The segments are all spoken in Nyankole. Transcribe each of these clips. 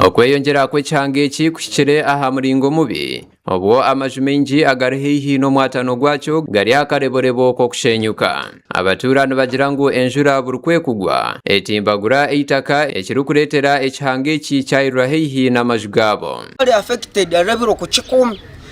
Okweyongyera kw'ekihanga eki kuhikire aha muringo mubi, obwo amaju maingi agari haihi n'omwatano gwakyo gari aha kareborebo k'okusheenyuka. Abatuura nibagira ngu enjura buri ku ekugwa, etimbagura eitaka, ekirikureetera ekihanga eki kyayirira haihi n'amaju gaabo.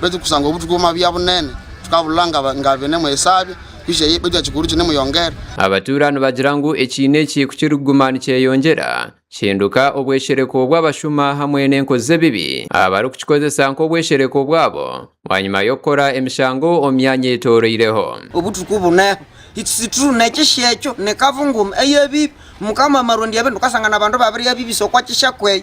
Baitu kusangwa obu tukuuma bya bunene, tukaburora nga bine mwesabya, kwisha ye, baitu ekiguru kine muyongera. Abatuura nibagira ngu ekiina eki ku kirikuguma nikyeyongyera, kihinduka obweshereko bw'abashuma hamwe n'enkozi z'ebibi abarikukikozesa nk'obweshereko bwabo bwanyima y'okukora emishango omu myanya eyetoroireho. Obu turikubunaho ekisituru n'ekisheekyo n'ekavungumu ey'ebibi, Mukama Amarundi Ebintu, tukashanga nabantu babirya bibi, so kwaki eshakwe eyo?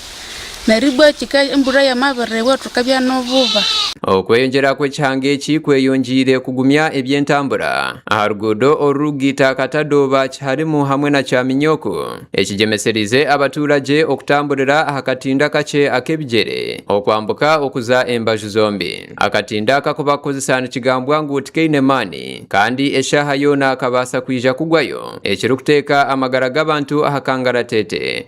Naribwo ekika embura y'amabirire bwo tukabya n'obuba. Okweyongyera kw'ekihanga eki kweyongyeire kugumya eby'entambura aha ruguudo orurugiita Katadoba, Kiharimu hamwe na Kyaminyoko, ekigyemesereize abatuuragye okutamburira aha katindo akakye ak'ebigyere okwambuka okuza embaju zombi. Akatindo aka ku bakukozesa nikigambwa ngu tikaine maani kandi eshaaha yoona kabaasa kwija kugwayo ekirikuteeka amagara g'abantu aha kangaratete.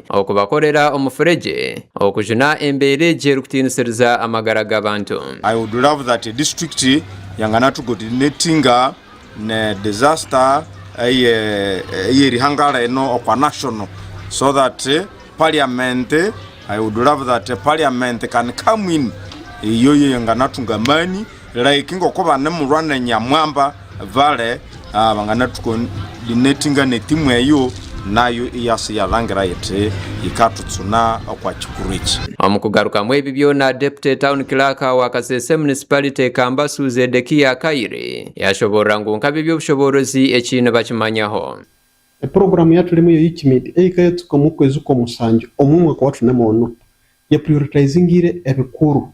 Okubakorera omufuregye, okujuna embeera egi erikutiinisiriza amagara g'abantu. I would love that a district yangana to coordinating ne disaster eye eyeri hangara eno okwa national so that parliament I would love that parliament can come in eyoyo yangana tunga amaani. Like nk'oku Abanemurwa na Nyamwamba bari abangana tuko baine etinganeti imwe eyo nayo eyasa yarangira eti Ikatutsuna okwa Kikuru eki. Omu kugarukamu ebi byona, Deputy Town Clerk wa Kasese Municipality Kambasu Zedekiah Kaire yashoboorora ngu nk'abe by'obushoboorozi eki nibakimanyaho. Epuroguramu ya Tulime ya UKIMED ei ikayeetuka omu kwezi kwa musanju omu mwaka wa Tuneme onu, ya prioritizingiire ebikuru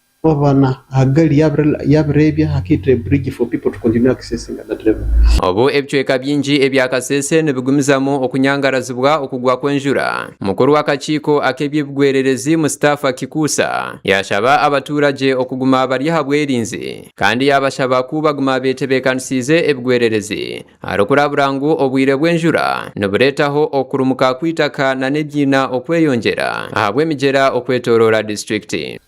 Obubaana Hagari yaabireebya, hakaitwa eburiigi for people to continue accessing other levels. Obu ebicweka bingi ebya Kasese nibigumizamu okunyangarazibwa okugwa kw'enjura, mukuru w'akakiiko ak'eby'ebigwererezi Mustafa Kikuusa yaashaba abatuuragye okuguma bari aha bwerinzi kandi yaabashaba ku baguma beetebeekanisiize ebigwererezi aharikurabura ngu obwire bw'enjura nibureetaho okurumuka kw'eitaka nana ebyiina okweyongyera ahabw'emigyera okwetooroora disiturikiti.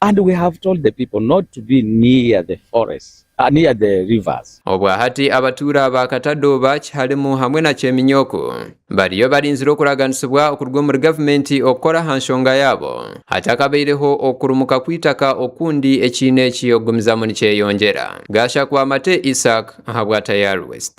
And we have told the people not to be near the forests, near the rivers. Obwahati abatuura ba Katadooba, Kihalimu hamwe na Kyeminyoko bariyo barinzire okuraganisibwa okuruga omuri gavumenti okukora aha nshonga yaabo hatakabaireho okurumuka kw'eitaka okundi ekiine eki okugumizamu nikyeyongyera. Gashakwa Mate Isaac ahabwa Tayari West.